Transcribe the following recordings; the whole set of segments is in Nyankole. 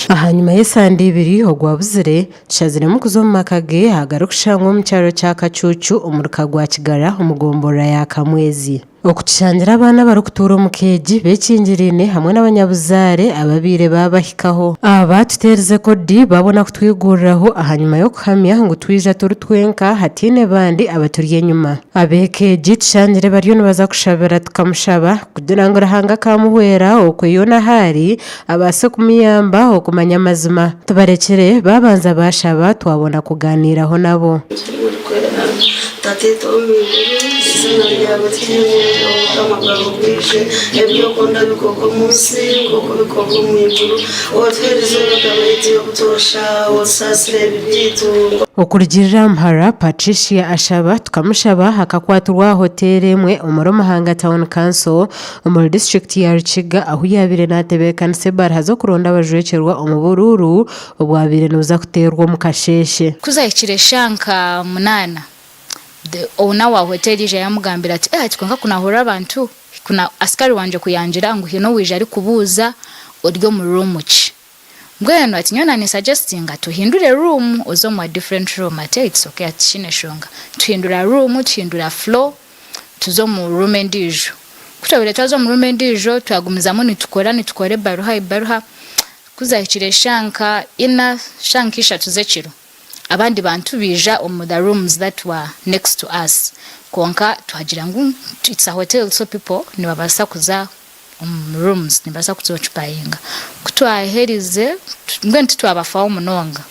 Ahanyima y'esande ibiri ogwabuzire tushaziremu kuza omu maka ge agarikushangwa omu kyaro kya Kacuucu omuri ka gwa Kigara omu gomborora ya Kamwezi okutushangira abaana abarikutuura omu ka egi bekingiraine hamwe n'abanyabuzaare ababaire baabahikaho. Aba baatuteerize kodi baabona kutwiguriraho ahanyima y'okuhamya ngu twija turi twenka hataine bandi abaturi enyima. Ab'eka egi tushangire bariyo nibaza kushabira tukamushaba kugira ngu Ruhanga akaamuhwera okwe yoona ahu ari, abaase kumuyamba okumanya amazima. Tubarekire baabanza baashaba twabona kugaaniiraho nabo. Ogira orikwera. Tata itwe ow'omu iguru, eiziina ryawe rihimbwe, obukama bwawe bwije, ebi orikunda bikorwe omu nsi nk'oku bikorwa omu iguru. Otuherize Omukama aitye obutoosha, Otusaasire ebibi byaitu. Okurugirira Mhara Patricia Ashaba Tukamushaba akakwatirwa aha hoteeri emwe omuri Muhanga Town Council omuri disiturikiti ya Rukiga ahu yaabaire naatebeekanisa ebaraha z'okuronda abajwekyerwa omu buruuru obwabaire nibuza kuteerwa omu kasheeshe. Ku zaahikire eshaaha nka munaana, the owner wa hoteeri yaija yaamugambira ati, Eeh hati kwonka ku naahurira abantu! Hikuna askari wangye kuyangira ngu haine owaija arikubuuza ori omu room ki? Mbwenu ati nyowe nani suggestinga tuhindure room oze omu a different room ati eeh it's okay ati tikiine enshonga. Tuhindura room tuhindura floor tuza omu room endiijo. Kutwahuriire twaza omu room endiijo twagumizamu nitukora nitukora ebaruha ebaruha kuzahikire shaaha nka ina shaaha nka ishatu z'ekiro. Abandi bantu baija omu the rooms that were next to us kwonka twagira ngu it's a hotel so people nibabasa kuza omu rooms nibabasa kuza ocupayinga. Ku twaherize mbwenu titwabafaho munonga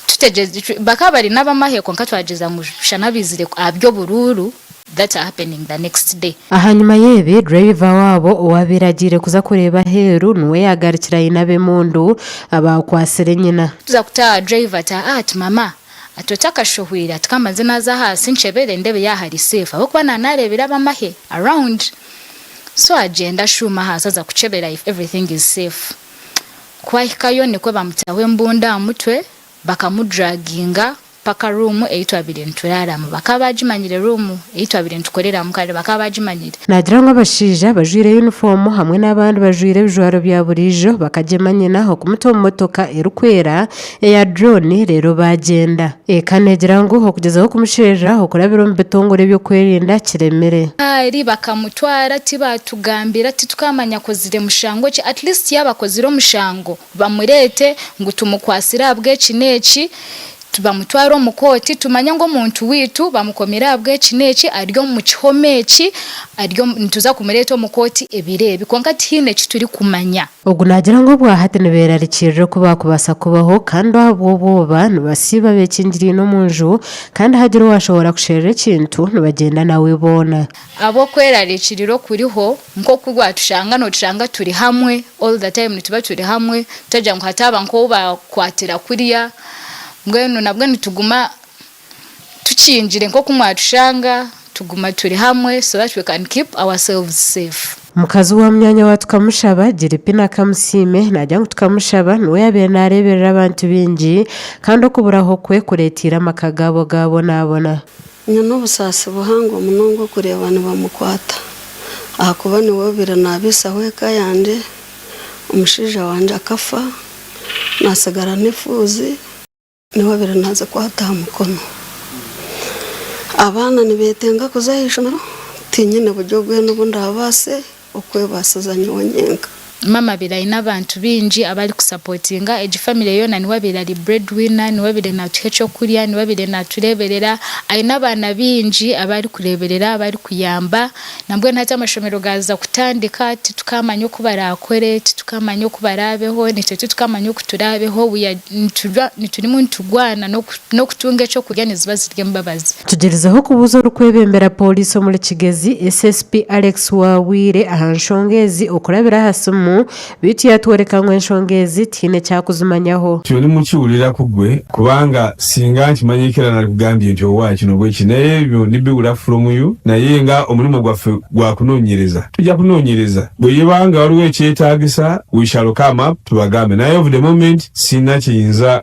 tutegye bakaba bari nabamahe kwonka twagyeza ngu shana baizire ahabyoburuuru. that happening the next day. Ahanyima y'ebi, driver waabo owaabaire agiire kuza kureeba aheeru niwe yaagarukire aine ab'emundu abaakwatsire nyina. Kuza kutaaha driver ati aa ati mama ati oti akashohwiire ati kambanze naaza ahansi nkyebere ndeebe yaaba ari safe ahabw'okuba naaba naareebire ab'amahe around so agyenda ashuuma ahansi aza kukyebera if everything is safe ku ahikayo nikwo baamutaho embundu aha mutwe Bakamuduraginga mpaka ruumu ei twabaire nituraaramu. Bakaba baagimanyire ruumu ei twabaire nitukoreramu kandi bakaba baagimanyire. Naagira ngu abashaija abajwaire yunifoomu hamwe n'abandi bajwaire ebijwaro bya buriijo bakagyema nyina okumuta omu motoka erikwera eya durooni reero baagyenda. Eka neegira ngu okugyezaho kumusherura okurabira omu bitongore by'okwerinda kiremire. Kaari bakamutwara tibaatugambira titukaamanya akozire mushango ki. At least yaaba akozire omushango Bamureete ngu tumukwatsire ahabw'eki n'eki, bamutware omu kooti, tumanye ngu omuntu waitu bamukomiire ahabw'eki n'eki, ari omu kihome eki, ari omu, nituza kumureeta omu kooti ebiro ebi. Kwonka tihaine eki turikumanya. Ogu naagira ngu obwa hati nibeerarikirira oku baakubaasa kubaho, kandi ahabw'obwoba nibasiiba beekingiriine omu nju, kandi hagira owaashoboora kusherura ekintu, nibagyenda nawe boona. Ahabw'okwerarikirira okuriho, nk'oku waatushanga nootushanga turi hamwe, all the time nituba turi hamwe, tutagira ngu hataaba nk'ou baakwatira kurya, mbwenu nabwo nituguma tukingire nk'oku mwaatushanga, tuguma turi hamwe so that we can keep ourselves safe. Mukazi wa munyaanya wa Tukamushaba, Giripina Kamusiime, naagira ngu Tukamushaba niwe yaabaire naareeberera abantu baingi kandi okuburaho kwe kureeteire amaka gaabo gaabonaabona. Nyowe n'obusaasi buhango munonga okureeba nibamukwata ahakuba niwe obaire naabisaho eka yangye, omushaija wangye akafa natsigara n'efuuzi niwe obaire nazikwata aha mukono. Abaana nibetenga kuza aha ishomero tinyine buryo bwena obu ndaabaase okwebaasiza nyowe nyenka. Maama abaire aine abantu baingi abari kusapotinga egi famire yoona niwe abaire ari bread winner, niwe abaire naatuha eky'okurya, niwe abaire naatureeberera, aine abaana baingi abu arikureeberera abu arikuyamba nambwenu hati amashomero gaaza kutandika titukaamanya oku baraakore, titukaamanya oku baraabeho, naitwe titukaamanya oku turaabeho, we are niturimu niturwana n'oku n'okutunga eky'okurya niziba ziri embabazi. Tugyerizeho kubuuza orikwebembera pooriisi omuri Kigezi, SSP Alex Wabwire aha nshonga ezi okurabira aha simu beitu yaatworeka ngu enshonga ezi tihaine eki akuzimanyaho. Turi ni muki wulira ku gwe kubanga singa nkimanya ekira nari kugambye nti owa eki nobu eki naye ebyo ni biwura from you naye nga omurimo gwafe gwa kunonyereza tugya kunonyereza bwe yibanga wariwo ekyetagisa we shall come up tubagambe naye of the moment sina kye nyinza